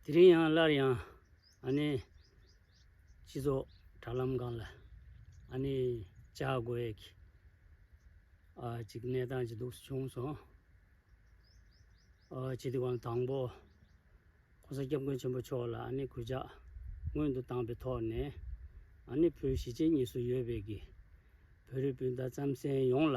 དེ་རིང་ཡང་སླར་ཡང་ཨ་ནེ་སྤྱི་ཚོགས་དྲ་ལམ་སྒང་ལ་ཨ་ནེ་ལྕགས་དགོ་ཡེ་གི་ཅིག་གནས་སྟངས་ཅི་འདུག་བྱུང་སོང། སྤྱི་འཐུས་ཁོང་དང་པོ ྋགོང་ས ྋསྐྱབས་མགོན་ཆེན་པོ་མཆོག་ལ་ཨ་ནེ་གུས་ཕྱག་སྔོན་དུ་བཏང་པའི་ཐོག་ནས་ཨ་ནེ་བོད་གཞིས་བྱེས་གཉིས་སུ་ཡོད་པའི་གི་བོད་རིགས་སྤུན་ཟླ་རྩམ་གཟན་ཡོངས་ལ་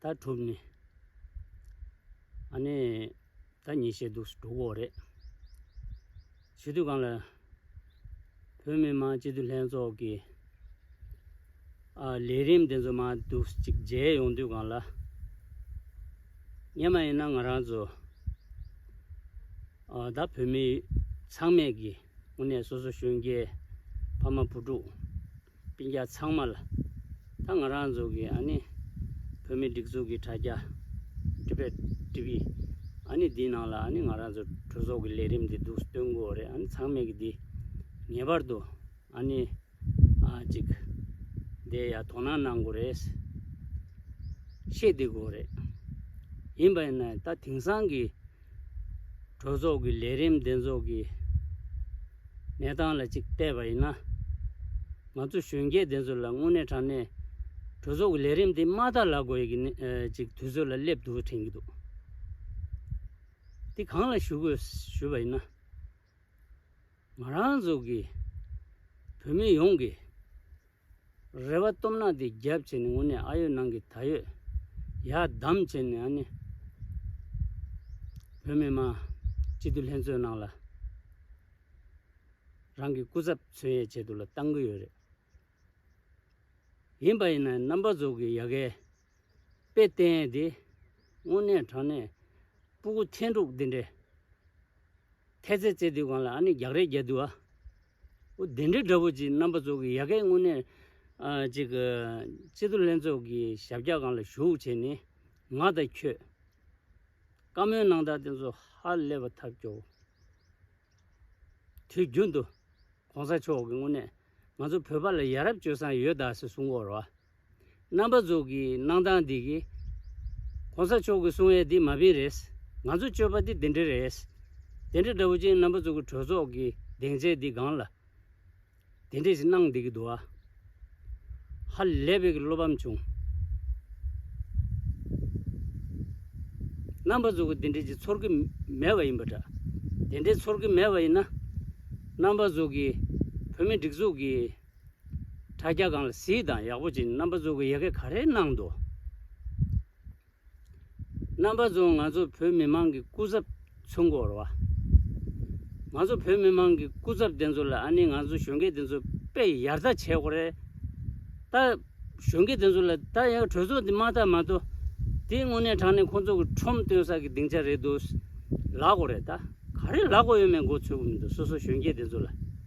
ད་གྲུབ་ནས། ཨ་ནེ། ད་ཉིད་བཤད་སྡུག་སུ་འགྲོ་གོ་རེད། བྱེས་དུས་གང་ལ། བོད་མི་མང་སྤྱི་འཐུས་ལྷན་ཚོགས་ཀྱི། ལས་རིམ་དེ་ཚོ་མང་སྡུག་ཅིག་མཇལ་ཡོང་དུས་གང་ལ། ངས་མ་ཡིན་ན་ང་རང་ཚོ། ད་བོད་མི་ཚང་མས་ཀྱི་དབུ་ནས་སོ་སོ་གཞོན་སྐྱེས། ཕ་མ་བུ་ཕྲུག། སྤུན་རྒྱ་ཚང་མ་ལ་ད་ང་རང་ཚོ་གི་ཨ་ནི་བོད་མི་སྒྲིག་འཛུགས་ཀྱི་དྲ་རྒྱ། Tibet TV། ཨ་ནི་འདིའི་ནང་ལ་ཨ་ནི་ང་རང་ཚོ་གྲོས་ཚོགས་ཀྱི་ལས་རིམ་འདི་འདུག་སྟོན་དགོས་བ་རེད་ཨ་ནི་ཚང་མས་ཀྱི་འདི་ངེས་པར་དུ་ཨ་ནི་ཨ་ཅིག་འདའི་ཡ་དོ་སྣང་གནང་དགོས་རེད། ཤེས་བདེ་དགོས་བ་རེད། ཡིན་པ་ཡིན་ན་ད་དེང་སང་གི། གྲོས་ཚོགས་ཀྱི་ལས་རིམ་གདན་འཛོགས་ཀྱི་གནས་སྟངས་ལ་གཅིག་བལྟས་པ་ཡིན་ན། ང་ཚོ་གཞོན་སྐྱེས་དེ་ཚོ་ལ་དངོས་གནས་དྲང་གནས་གྲོས་ཚོགས་ཀྱི་ལས་རིམ་དེ་མ་ལྟར་ལག་དགོས་ཀྱི་ཅིག་དུས་ཚོད་ལ་སླེབས་འདུག་དྲན་གྱི་འདུག་དེ་གང་ལ་ཞུ་དགོས་ཞུས་པ་ཡིན་ན། ང་རང་ཚོ་གི་བོད་མི་ཡོངས་ཀྱི་རེ་བ་སྟོབས་ནག་དེ་རྒྱབ་བྱས་ནས་ངུ་ནས་ཨ་ཡོད་ནང་གི་ད་ཡོད། ཡག་གདམ་བྱས་ནས་ཨ་ནི། བོད་མི་མང། སྤྱི་འཐུས་ལྷན་ཚོགས་ནང་ལ། རང་གི་སྐུ་ཚབ་མཚོན་ཡས་བྱེད་དུ་ལ་བཏང་གི་ཡོད་རེད། ཡིན་པ་ཡིན་ན་རྣམ་པ་ཟོག་གི་ཡ་གའི། དཔེ་བསྟན་ཡས་དེ། དངོས་གནས་དྲང་གནས། སྤུ་གུ་ཐན་ཕྲུག་འདི་འདྲའི། ཐལ་ཚེ་རྩེ་དུས་གང་ལ་ཨ་ནི་རྒྱག་རེས་རྒྱག་དུས་ཨ། ཨོ་བདེ་འདྲེ་དགྲ་བོ་ཅིག་རྣམ་པ་ཚོགས་ཀྱི་ཡ་གས་དངོས་གནས། ཅིག། སྤྱི་འཐུས་ལྷན་ཚོགས་ཀྱི་ཞབས་བཀྱག་ཁང་ལ་ཞུགས་བྱས་ནས། ང་དང་ཁྱོད། བཀའ་མོལ་གནང་སྟངས་དེ་ཚོ་ཧ་ལས་པ་ཐབས་སྐྱོ་བོ། དུས་རྒྱུན་དུ། གོང་ས་མཆོག་གིས་དངོས་གནས། ང་ཚོ་བོད་པ་ལ་ཡ་རབས་སྤྱོད་བསམ་ཡོད་གདའ་ཟེར་གསུང་སྐོར་བ། རྣམ་པ་རྫོགས་ཀྱི་གནང་སྟངས་འདི་གི། གོང་ས་མཆོག་གི་གསུང་ཡས་འདི་མ་ཕིན་རེད། ང་ཚོ་སྤྱོད་པ་འདི་འདི་འདྲ་རེད། དེ་འདྲ་འདྲ་བོ་ཅན་རྣམ་པ་རྫོགས་ཀྱི་གྲོས་ཚོགས་ཀྱི་གདེང་ཚད་འདི་སྒང་ལ། དེ་འདྲས་ཞིག་གནང་བསྡད་ཀྱི་འདུག་ཨ། ཧ་ལས་པའི་གི་བློ་ཕམ་བྱུང། རྣམ་པ་རྫོགས་ཀྱི་འདི་འདྲས་ཅིག་ཚོར་གྱི་མེད་པ་ཡིན་པ་འདྲ། དེ་འདྲས་ཚོར་གྱི་མེད་པ་ཡིན་ན། རྣམ་པ་རྫོགས་ཀྱི་བོད་མི་སྒྲིག་འཛུགས་ཀྱི་དྲ་རྒྱ་གང་ལ་གཟིགས་དང་ཡག་པོ་བྱིན་རྣམ་པ་ཚོ་གི་ཡ་གེ་ག་རེ་གནང་འདུག་རྣམ་པ་ཚོ་ང་ཚོ་བོད་མི་མང་གི་སྐུ་ཚབ་ཚུན་སྐོར་བ་ང་ཚོ་བོད་མི་མང་གི་སྐུ་ཚབ་དེ་ཚོ་ལ་ཨ་ནི་ང་ཚོ་གཞོན་སྐྱེས་དེ་ཚོ་དཔེ་ཡར་ལྟ་བྱས་ཁོ་རེ་ད་གཞོན་སྐྱེས་དེ་ཚོ་ལ་ད་ཡང་གྲོས་ཚོགས་འདི་མ་བཏབ་མ་གཏོ་དེ་དངོས་གནས་དྲང་གནས་ཁོ་ཚོ་གི་ཁྲོམ་སྟོན་ས་གི་སྡིངས་ཆ་རེད་འདུག་ལག་གོ་རེ་ད་ག་རེ་ལག་གོ་ཡོད་མེད་མགོ་ཚོས་གི་མི་འདུག་སོ་སོ་གཞོན་སྐྱེས་དེ་ཚོ་ལ།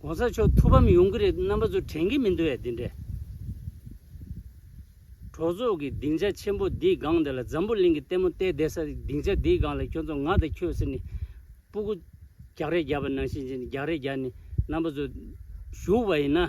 ྋགོང་ས་མཆོག་ཐུགས་ཕམ་ཡོང་གི་རེད་འདུག་རྣམ་པ་ཚོ་དྲན་གི་མི་འདུག་ཡ་འདི་འདྲའི་གྲོགས་ཚོགས་ཀྱི་སྡིངས་ཆ་ཆེན་པོ་འདིའི་སྒང་འདི་ལ་འཛམ་བུ་གླིང་གི་ལྟད་མོ་བལྟས་བསྡད་ས་སྡིངས་ཆ་འདིའི་སྒང་ལ་ཁྱོད་ཚོ་ང་དང་ཁྱོད་ཟེར་ནས་སྤུ་གུ་རྒྱག་རེས་རྒྱག་པ་ནང་བཞིན་བྱས་ནས་རྒྱག་རེས་རྒྱག་ནས་རྣམ་པ་ཚོ་བཞུགས་པ་ཡིན་ན།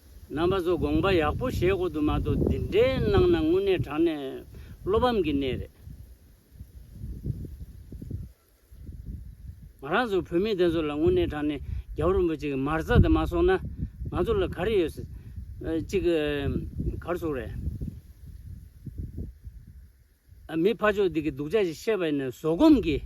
རྣམ་པ་ཚོ་དགོངས་པ་ཡག་པོ་བཞེས་དགོས་དུ་མ་འདུག་འདི་འདྲའི་གནང་ན་དངོས་གནས་དྲང་གནས་བློ་ཕམ་གྱི་གནས་རེད། ང་རང་ཚོ་བོད་མི་དེ་ཚོ་ལ་དངོས་གནས་དྲང་གནས་རྒྱལ་པོ་རིན་པོ་ཆེ་གི་མར་ཚ་དེ་མ་སོང་ན་ང་ཚོ་ལ་ག་རེ་ཡོད་སྲིད། གཅིག་གི་གར་སོང་རེད། མི་ཕ་ཕྱོགས་འདི་གི་སྡུག་ཆ་ཞིག་བཤད་པ་ཡིན་ན་བཟོད་སྒོམ་གྱིས།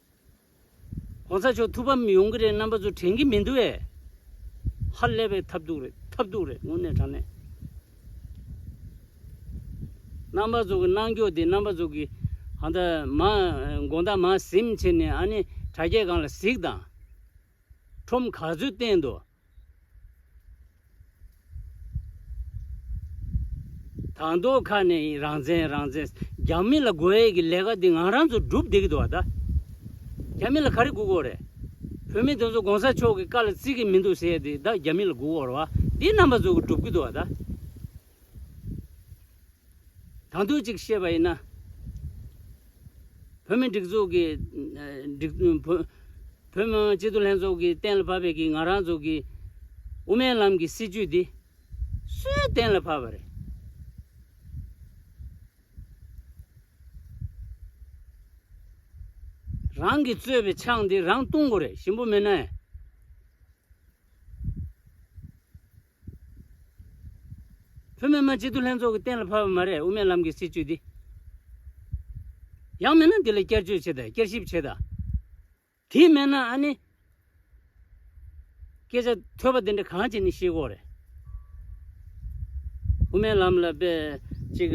གོང་ས་མཆོག་ཐུགས་ཕམ་ཡོང་གི་རེད་རྣམ་པ་ཚོ་དྲན་གི་མི་འདུག་བས། ཧ་ལས་པའི་ཐབས་སྡུག་རེད་ཐབས་སྡུག་རེད་དངོས་གནས་དྲང་གནས། རྣམ་པ་ཚོ་གི་གནང་སྐྱོ་དེ་རྣམ་པ་ཚོ་གི་ཧ་ད་མ་དགོངས་དག་མ་གཟིམས་ཕྱིར་ནས་ཨ་ནི་དྲ་རྒྱས་གང་ལ་གཟིགས་དང། ཁྲོམ་ག་ཚོད་བསྟན་འདུག་དང་ཐོག་ཁ་ནས་ཡིན་རང་བཙན་རང་བཙན་རྒྱ་མི་ལ་དགོས་ཡས་ཀྱི་ལས་ཀ་འདི་ང་རང་ཚོ་སྒྲུབ་བདེ་གི་འདུག་བ་ད་རྒྱ་མི་ལ་ག་རེ་སྒུག་འོག་རེད་བོད་མི་དེ་ཚོ་གོང་ས་མཆོག་གི་བཀའ་ལ་བརྩི་གི་མི་འདུག་ཟེར་ཡས་དེ་ད་རྒྱ་མི་ལ་སྒུག་འོག་རེད་བ་འདི་རྣམ་པ་ཚོ་གི་སྒྲུབ་གི་འདུག་བ་ད། དང་དོད་ཅིག་བཤད་པ་ཡིན་ན། བོད་མི་སྒྲིག་འཛུགས་ཀྱི། བོད་མི་དམངས་སྤྱི་མཐུན་ལྷན་ཚོགས་ཀྱིས་གཏན་ལ་ཕབ་པའི་གིས་ང་རང་ཚོ་གི། དབུ་མའི་ལམ་གྱི་སྲིད་བྱུས་འདི། སུས་གཏན་ལ་ཕབ་པ་རེད། རང་གིས་གཙོས་པའི་ཕྱག་འདི་རང་གཏོང་དགོས་རེད་ཞིམ་པོ་མིན་ན། བོད་མི་མང་སྤྱི་འཐུས་ལྷན་ཚོགས་ཀྱི་གཏན་ལ་ཕབ་པ་མ་རེད་དབུ་མའི་ལམ་གྱི་སྲིད་བྱུས་འདི། ཡག་མིན་ན་འདི་ལ་བསྐྱར་བཅོས་བྱེད་དང་བསྐྱར་ཞིབ་བྱེད་དང། དེ་མེད་ན་ཨ་ནི། སྐད་ཆ་ཐོས་པ་འདི་འདྲ་གང་བྱས་ནས་ཤེས་ཁོག་རེད། དབུ་མའི་ལམ་ལ་དཔེ་གཅིག།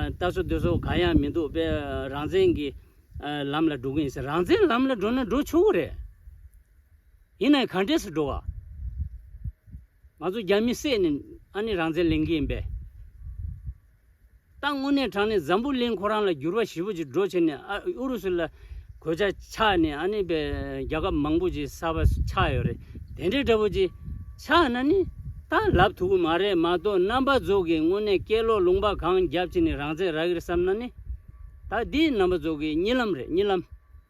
ལྟ་སོ་འདོད་སོ་གང་ཡང་མི་འདུག་དཔེ་རང་བཙན་གྱི་ལམ་ལ་འགྲོ་གི་ཡིན་ཟེར་རང་བཙན་ལམ་ལ་འགྲོ་ན་འགྲོ་ཆོག་གི་རེད། ཡིན་ནའི་གང་འདྲས་སུ་འགྲོ་བ། ང་ཚོ་རྒྱ་མི་བསད་ནི་ཨ་ནི་རང་བཙན་ལེན་གི་ཡིན་པས། ཏང་དངོས་གནས་དྲང་ནས་འཛམ་བུ་གླིང་ཁོ་རང་ལ་འགྱུར་བ་ཞི་བོ་ཅིག་འགྲོ་བྱེད་ནས་ཨ་ཨུ་རུ་སུ་ལ་གོད་ཆག་ཆགས་ནི་ཨ་ནི་པའི་རྒྱ་ཁབ་མང་པོ་ཅིག་གསར་པ་ཆགས་ཡོད་རེད་དེ་འདྲའི་འདྲ་བོ་ཅིག་ཆགས་ན་ནི་ད་ལབ་ཐུབ་གི་མ་རེད་མ་གཏོགས་རྣམ་པ་རྫོགས་གིས་དངོས་གནས་སྐད་ལོག་ལུང་པ་གང་རྒྱབ་བྱེད་ནི་རང་བཙན་རག་གིར་བསམ་ན་ནི་ད་འདི་རྣམ་པ་རྫོགས་གིས་རྨྱི་ལམ་རེད་རྨྱི་ལམ།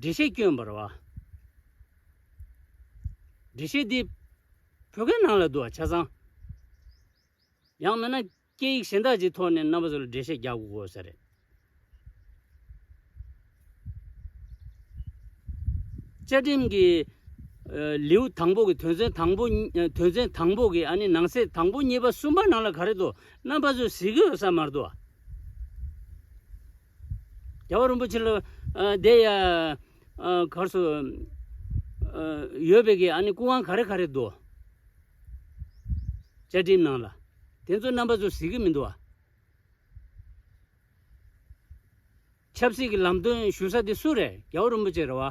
འགྲེལ་བཤད་སྐྱོན་འབར་བ། འགྲེལ་བཤད་འདི་བོད་སྐད་ནང་ལ་བསྡུ་བ་ཆ་ཚང། ཡང་མིན་ན་སྐད་ཡིག་གཞན་དག་ཅིག་ཐོག་ནས་རྣམ་པ་ཚོ་ལ་འགྲེལ་བཤད་རྒྱག་དགོས་དགོས་ས་རེད། བཅའ་ཁྲིམས་ཀྱི་ལེའུ་དང་པོ་གི་དོན་ཚན་དང་པོ་དོན་ཚན་དང་པོ་གི་ཨ་ནི་ནང་གསེས་དང་པོ་གཉིས་པ་གསུམ་པ་ནང་ལ་ག་རེ་དུ་རྣམ་པ་ཚོས་གཟིགས་གི་ཡོད་ས་མ་རེད་དོ། རྒྱལ་བ་རིན་པོ་ཆེ་ལ་བདེ་ཡ། གར་སོ། ཡོད་པའི་གི་ཨ་ནི་སྐུ་དབང་ག་རེ་ག་རེ་འདུག། བཅའ་ཁྲིམས་ནང་ལ། དེ་ཚོ་རྣམ་པ་ཚོ་གཟིགས་ཀྱི་མི་འདུག་ཨ། ཆབ་སྲིད་ཀྱི་ལམ་སྟོན་ཞུ་ས་དེ་སུ་རེད་རྒྱལ་བ་རིན་པོ་ཆེ་རེད་བ།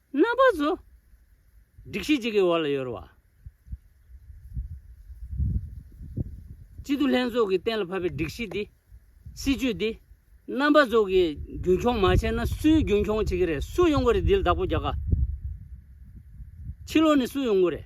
རྣམ་པ་གཟུགས། སྒྲིག་གཞི་གཅིག་གི་འོག་ལ་ཡོད། གཅིག་ཏུ་ལྷན་ཚོགས་ཀྱིས་གཏན་ལ་ཕབ་པའི་སྒྲིག་གཞི་འདི། སྲིད་ཇུས་འདི། རྣམ་པ་གཟུགས་ཀྱིས་རྒྱུན་འཁྱོངས་མ་བྱས་ན་སུས་རྒྱུན་འཁྱོངས་བྱེད་ཀྱི་རེད་སུ་ཡོང་གི་རེད་འདི་ལ་བདག་པོ་རྒྱག་དཀའ། ཕྱི་ལོགས་ནས་སུ་ཡོང་གི་རེད།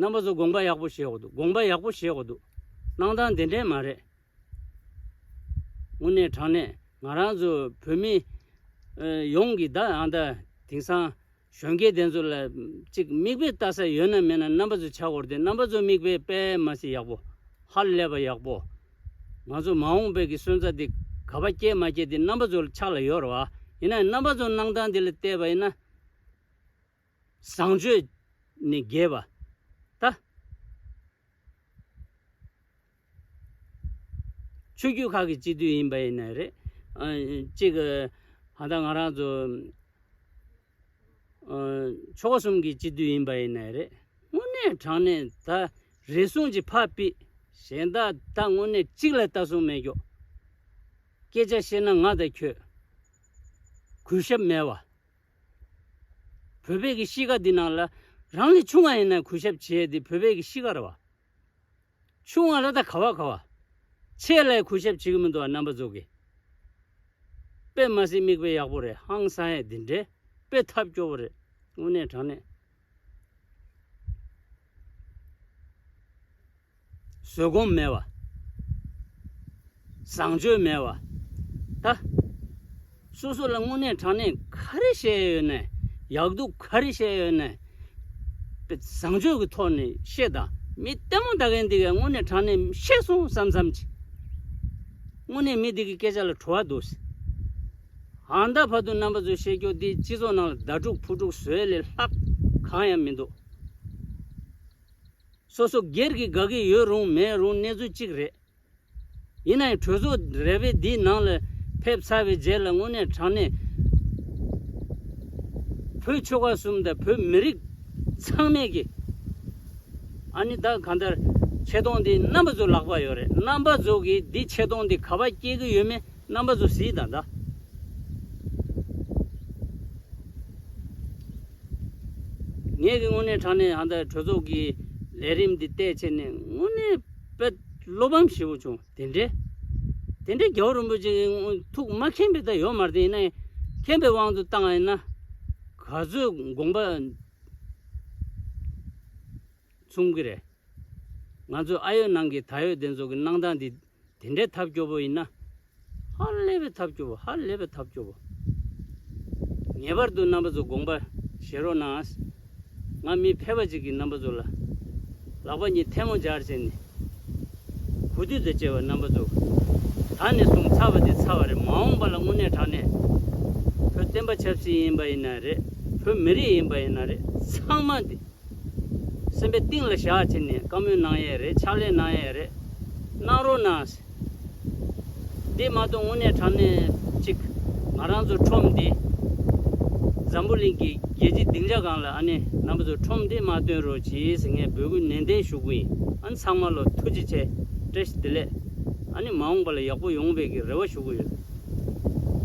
རྣམ་པ་ཚོ་དགོངས་པ་ཡག་པོ་བཞེས་འོག་འདུག་དགོངས་པ་ཡག་པོ་བཞེས་འོག་འདུག་གནང་སྟངས་དེ་འདྲས་མ་རེད། དངོས་གནས་དྲང་གནས་ང་རང་ཚོ་བོད་མི་ཡོངས་ཀྱིས་ད་ཡང་ད་དེང་སང་གཞོན་སྐྱེས་དེ་ཚོ་ལ་ཅིག་མིག་དཔེ་ལྟ་ས་ཡོད་ན་མེད་ན་རྣམ་པ་ཚོ་ཆག་གོ་རེད་རྣམ་པ་ཚོ་མིག་དཔེ་དཔེ་མ་ཟིག་ཡག་པོ་ཧ་ལས་པ་ཡག་པོ། ང་ཚོ་མ་འོངས་པའི་གི་སོན་རྩ་དེ་ག་པ་སྐྱེས་མ་སྐྱེས་དེ་རྣམ་པ་ཚོ་ལ་ཆག་ལ་ཡོད་ར་བ་ཡིན་ན་ཡང་རྣམ་པ་ཚོ་གནང་སྟངས་དེ་ལ་བལྟས་པ་ཡིན་ན། བཟང་སྤྱོད་ནི་རྒྱས་པ། ལྟ་སྤྱོད་རྒྱུད་ཁག་གི་གཅིག་བསྡུས་ཡིན་པ་ཡིན་ནི་རེད། གཅིག་ད་ལྟ་ང་རང་ཚོ་ཆོ་ག་གསུམ་གྱི་གཅིག་བསྡུས་ཡིན་པ་ཡིན་ནི་རེད། དངོས་གནས་དྲང་གནས་ད་རེ་ཟུང་གཅིག་ཕ་དཔེ་གཞན་དག་ད་དངོས་གནས་གཅིག་ལ་ལྟ་སོང་མེད་ཀྱོག། སྐད་ཆ་བཤད་ན་ང་དང་ཁྱོད་གུས་ཞབས་མེད་བ། བོད་བོད་ཀྱི་གཤིས་ཀ་འདི་ནང་ལ་རང་ལས་ཆུང་བ་ཡིན་ན་གུས་ཞབས་བྱེད་འདི་བོད་བོད་ཀྱི་གཤིས་ཀ་ར་བ། ཆུང་བ་ལ་ད་ག་བ་ག་བ། ཆེ་ལ་ཡང་གུས་ཞབས་བྱེད་ཀྱི་མི་འདུག་བ་རྣམ་པ་རྫོགས་ཀྱི་དཔེ་མ་ཟིན་མིག་དཔེ་ཡག་པོ་རེད་ཧང་སང་ཡས་འདི་འདྲའི་དཔེ་ཐབས་སྐྱོ་བོ་རེད་དངོས་གནས་དྲང་གནས། བཟོད་སྒོམ་མེད་པ། བཟང་སྤྱོད་མེད་པ། ད། སོ་སོ་ལ་དངོས་གནས་དྲང་གནས་ག་རེ་བྱས་ཡོད་ནས་ཡག་སྡུག་ག་རེ་བྱས་ཡོད་ནས། བཟང་སྤྱོད་ཀྱི་ཐོག་ནས་བཤད་དང་མི་ལྟད་མོ་ད་གིན་འདི་གས་དངོས་གནས་དྲང་གནས་བཤད་སོང་བསམ་བསམ་གྱིས། དངོས་གནས་མི་འདི་གི་སྐད་ཆ་ལ་བྲོ་བ་འདུག་ཟེར། ཧང་ད་བར་དུ་རྣམ་པ་ཚོའི་བཤད་རྒྱུ་འདི་སྤྱི་ཚོགས་ནང་ལ་ཟླ་དྲུག་ཕུ་དྲུག་བཟོས་ལས་ལྷག་གང་ཡང་མི་འདུག། སོ་སོ་སྒེར་གྱི་དགའ་གི་ཡོད་རུང་མེད་རུང་གནས་ཚུལ་གཅིག་རེད། ཡིན་ན་ཡང་གྲོས་ཚོགས་རལ་པའི་འདིའི་ནང་ལ་ཕེབས་ཚར་བའི་རྗེས་ལ་དངོས་གནས་དྲང་གནས་བོད་ཆོལ་ཁ་གསུམ་དང་བོད་མི་རིགས་ཚང་མས་ཀྱི་ཨ་ནི་ད་གང་ལྟར་ཆེ་མཐོང་འདི་རྣམ་པ་ཚོའི་ལག་པར་ཡོད་རེད་རྣམ་པ་ཚོ་གིས་འདི་ཆེ་མཐོང་འདི་ག་པར་སྐྱེལ་གི་ཡོད་མེད། རྣམ་པ་ཚོ་ཟིལ་དང་འདྲ། ངེད་ཀྱི་དངོས་གནས་དྲང་གནས་ཧང་ཐའི་གྲོས་ཚོགས་ཀྱི་ལས་རིམ་འདི་བལྟས་ཕྱིར་ནས་དངོས་གནས་དཔེ་བློ་ཕམ་ཞེ་བོ་བྱུང་དེ་འདྲའི། དེ་འདྲའི་རྒྱལ་བ་རིན་པོ་ཆེ་གི་ཐུགས་མ་མཁྱེན་པའི་ད་ཡོད་མར་དེ་ཡིན་ན་མཁྱེན་པའི་དབང་དུ་བཏང་བ་ཡིན་ན། ག་ཚོད་དགོངས་པ་མཚུངས་ཀྱི་རེད། ང་ཚོས་ཨ་ཡོད་ནང་གི་ད་ཡོད་དེ་ཚོ་གི་གནང་སྟངས་འདི། དེ་འདྲའི་ཐབས་སྐྱོ་བོ་ཡིན་ན། ཧ་ལས་པའི་ཐབས་སྐྱོ་བོ་ཧ་ལས་པའི་ཐབས་སྐྱོ་བོ། ངེས་པར་དུ་རྣམ་པ་ཚོ་དགོངས་པ་བཞེས་རོགས་གནང་ཨ། ང་མི་ཕལ་པ་ཅིག་གིས་རྣམ་པ་ཚོ་ལ་ལག་པ་གཉིས་ཐལ་མོ་སྦྱར་བྱས་ནས། གོ་བསྡུར་དང་བཅས་པ་རྣམ་པ་ཚོ། ད་ནས་བཟུང་ཚར་བ་དེ་ཚར་བ་རེད་མ་འོངས་པ་ལ་དངོས་གནས་དྲང་གནས། བོད་བསྟན་པ་ཆབ་སྲིད་ཡིན་པ་ཡིན་ན་རེད་བོད་མི་རིགས་ཡིན་པ་ཡིན་ན་རེད་ཚང་མ་འདི། སེམས་པའི་གཏིང་ལ་བཞག་ཅིག་ནས་བཀའ་མོལ་གནང་ཡས་རེད་ཕྱག་ལས་གནང་ཡས་རེད། གནང་རོགས་གནང། འདི་མ་གཏོགས་དངོས་གནས་དྲང་གནས་གཅིག་ང་རང་ཚོ་ཁྲོམ་འདི། འཛམ་བུ་གླིང་གི་རྒྱལ་སྤྱི་སྡིངས་ཆ་གང་ལ་ཨ་ནེ་རྣམ་པ་ཚོ་ཁྲོམ་འདི་མ་སྟོན་རོགས་གྱིས་ངས་འབོད་སྐུལ་ནན་ཏན་ཞུ་གི་ཨ་ནེ་ཚང་མ་ལོ་ཐུགས་རྗེ་ཆེ་བཀྲ་ཤིས་བདེ་ལེགས་ཨ་ནེ་མ་འོངས་པ་ལ་ཡག་པོ་ཡོང་བའི་གི་རེ་བ་ཞུ་གི་ཡོད།